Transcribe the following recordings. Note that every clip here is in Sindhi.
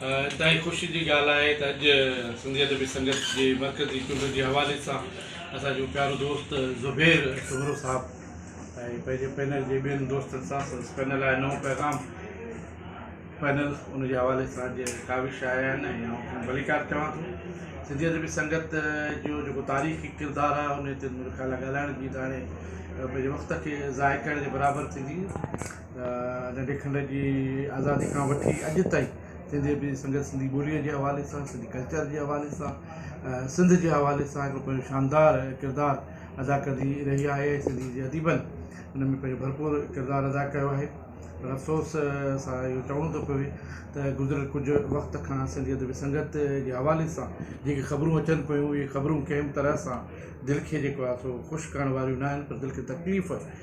انتهائي خوشي جي ڳالهه آهي ته اڄ سنڌي ادبي سنگت جي مرڪزي چونڊ جي حوالي سان اسان جو پيارو دوست زبير سومرو صاحب ۽ پنهنجي پينل جي ٻين دوستن سان سندس پينل آهي نئون پيغام پينل ان جي حوالي سان اڄ ڪاوش آيا آهن ۽ آئون کين ڀليڪار چوان ٿو سنڌي ادبي سنگت جو جيڪو تاريخي ڪردار آهي ان تي منهنجو خيال آهي ڳالهائڻ جي ته هاڻي پنهنجي وقت کي ضايع ڪرڻ جي برابر ٿيندي ننڍي کنڊ جي آزادي کان وٺي اڄ تائين سنڌي ادب جي سنگت سنڌي ٻوليء جي حوالي سان سنڌي ڪلچر جي حوالي سان سنڌ جي حوالي سان هڪڙو پنهنجو شاندار ڪردار ادا ڪندي رهي آهي ۽ سنڌي جي اديبن ان ۾ پنهنجو ڀرپور ڪردار ادا ڪيو آهي پر افسوس سان اهو چوڻو ٿو پوي ته گذريل ڪجهه وقت کان سنڌي ادب جي سنگت جي حوالي سان جيڪي خبرون اچن پيون اهي خبرون ڪنهن به طرح سان دل کي جيڪو آهي سو خوش ڪرڻ واريون نه آهن پر دل کي تڪليف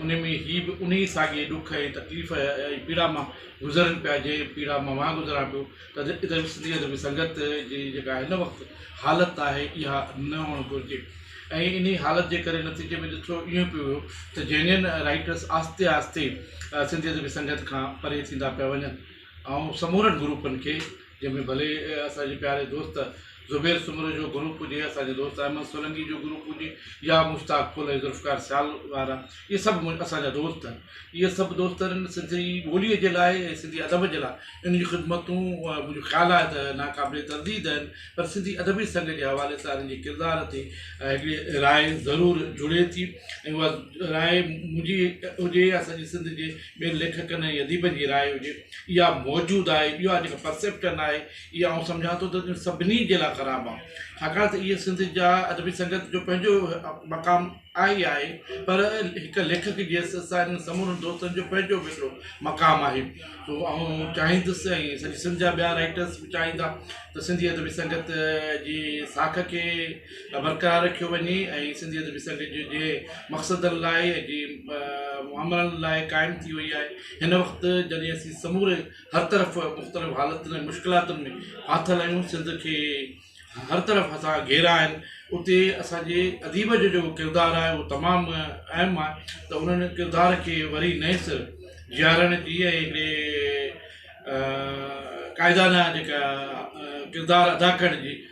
انهيء ۾ هي به انهيء ساڳئي ڏک ۽ تڪليف ۽ پيڙا مان گذرن پيا، جنهن پيڙا مان مان گذران پيو ته ادبي سنڌي ادبي سنگت جي جيڪا هن وقت حالت آهي، اها نه هئڻ گهرجي ۽ انهيء حالت جي ڪري نتيجي ۾ ڏٺو اهو پيو ويو ته جينين رائيٽرس آهستي آهستي سنڌي ادبي سنگت کان پري ٿيندا پيا وڃن ۽ سمورن گروپن کي جنهن ۾ ڀلي اسان جي پياري دوست زبير سومرو جو گروپ هجي اسان جي دوست احمد سولنگي جو گروپ هجي يا مشتاق ڦل ۽ ذوالفقار سيال وارا اهي سڀ مون اسان جا دوست آهن اهي سڀ دوست انهن سنڌي ٻوليء جي لاء ۽ سنڌي ادب جي لاء ان جون خدمتون منهنجو خيال آهي ته ناقابل ترديد آهن پر سنڌي ادبي سنگ جي حوالي سان انهن جي ڪردار تي هڪڙي راء ضرور جڙي ٿي ۽ اها راء منهنجي هجي يا سڄي سنڌ جي ٻين ليکڪن ۽ اديبن جي راء هجي اها موجود آهي اهو آ جيڪا پرسيپٽن آهي اها آئون سمجهان ٿو ته سڀني جي لاء خراب آ ڇاڪاڻ ته اهي سنڌ جا ادبي سنگت جو پنهنجو مقام آهي ئي آهي پر هڪ ليکڪ جي حيثيت سان انهن سمورن دوستن جو پنهنجو به هڪڙو مقام آهي سو آئون چاهيندس ۽ سڄي سنڌ جا ٻيا رائيٽرس به چاهيندا ته سنڌي ادبي سنگت جي ساک کي لاء برقرار رکيو وڃي ۽ سنڌي ادبي سرگجي جي جي مقصدن لاء ۽ جي مامرن لاء قائم ٿي وئي آهي هن وقت جڏهن اسين سموري هر طرف مختلف حالتن ۽ مشڪلاتن ۾ ڦاٿل آهيون سنڌ کي هر طرف اسان گهيرا آهن اتي اسانجي اديب جو جيڪو ڪردار آهي اهو تمام اهم آهي ته انهن ڪردار کي وري نئين سر جيارڻ جي ۽ هڪڙي قائدانه جيڪا ڪردار ادا ڪرڻ جي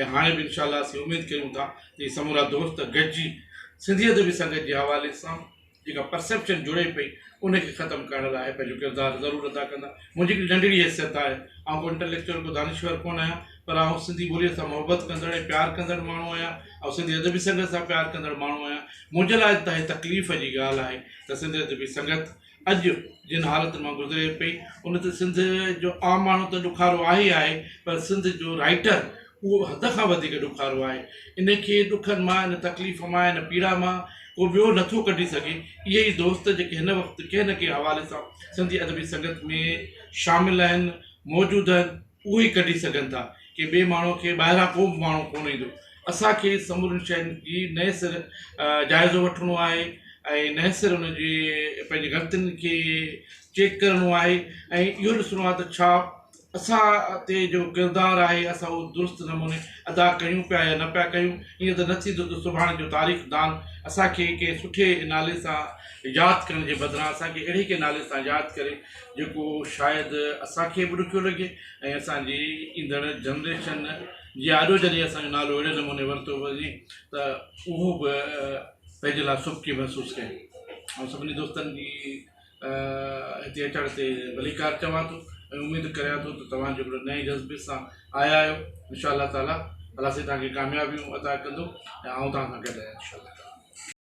۽ هاڻي به انشاء الله اسين اميد ڪريون ٿا ته هي سمورا دوست گڏجي سنڌيت به سنگت جي حوالي سان جيڪا پرسيپشن جڙي پئي ان کي ختم ڪرڻ لاء پنهنجو ڪردار ضرور ادا ڪندا منهنجي هڪڙي ننڍڙي حيثيت آهي آئون ڪو انٽليڪچوئل ڪو دانشور ڪونه آهيان پر آئون سنڌي ٻوليء سان محبت ڪندڙ ۽ پيار ڪندڙ ماڻهو آهيان آئون سنڌي ادبي سنگت سان پيار ڪندڙ ماڻهو آهيان منهنجي لاء انتهائي تڪليف جي ڳالهه آهي ته سنڌي ادبي سنگت اڄ جن حالتن مان گذري پئي ان تي سنڌ جو عام ماڻهو ته ڏکارو آهي ئي آهي پر سنڌ جو رائيٽر اهو حد کان وڌيڪ ڏکارو آهي ان کي ڏکن مان ان تڪليف مان ان پيڙا مان ڪو ٻيو نٿو ڪڍي سگهي اهي ئي دوست جيڪي هن وقت ڪنهن نه ڪنهن حوالي سان سنڌي ادبي سنگت ۾ شامل آهن موجود آهن اهو ئي ڪڍي سگهن ٿا ڪي ٻئي ماڻهو کي ٻاهران ڪو به ماڻهو ڪونه ايندو اسان کي سمورين شين جي نئين سر جائزو وٺڻو آهي ۽ نئين سر ان جي پنهنجي غلطين کي چيڪ ڪرڻو آهي ۽ اهو ڏسڻو آهي ته ڇا اسان تي جو ڪردار آهي اسان اهو درست نموني ادا ڪيون پيا يا نه پيا ڪيون ائين ته نه ٿيندو ته سڀاڻي جو تاريخ دان اسان کي ڪنهن سٺي نالي سان ياد ڪرڻ جي بدران اسان کي اهڙي ڪنهن نالي سان ياد ڪري جيڪو شايد اسان کي به ڏکيو لڳي ۽ اسان جي ايندڙ جنريشن جي آڏو جڏهن اسان جو نالو اهڙي نموني ورتو وڃي ته اهو به پنهنجي لاء سبڪي محسوس ڪن آئون سڀني دوستن جي هتي اچڻ تي ڀليڪار چوان ٿو ۽ اميد ڪريان ٿو ته توهان جو هڪڙو نئين جذبي سان آيا آهيو انشاء الله تعاليٰ الله سائين توهان کي ڪاميابيون عطا ڪندو ۽ آئون توهان سان گڏ آهيان انشاء الله تعاليٰ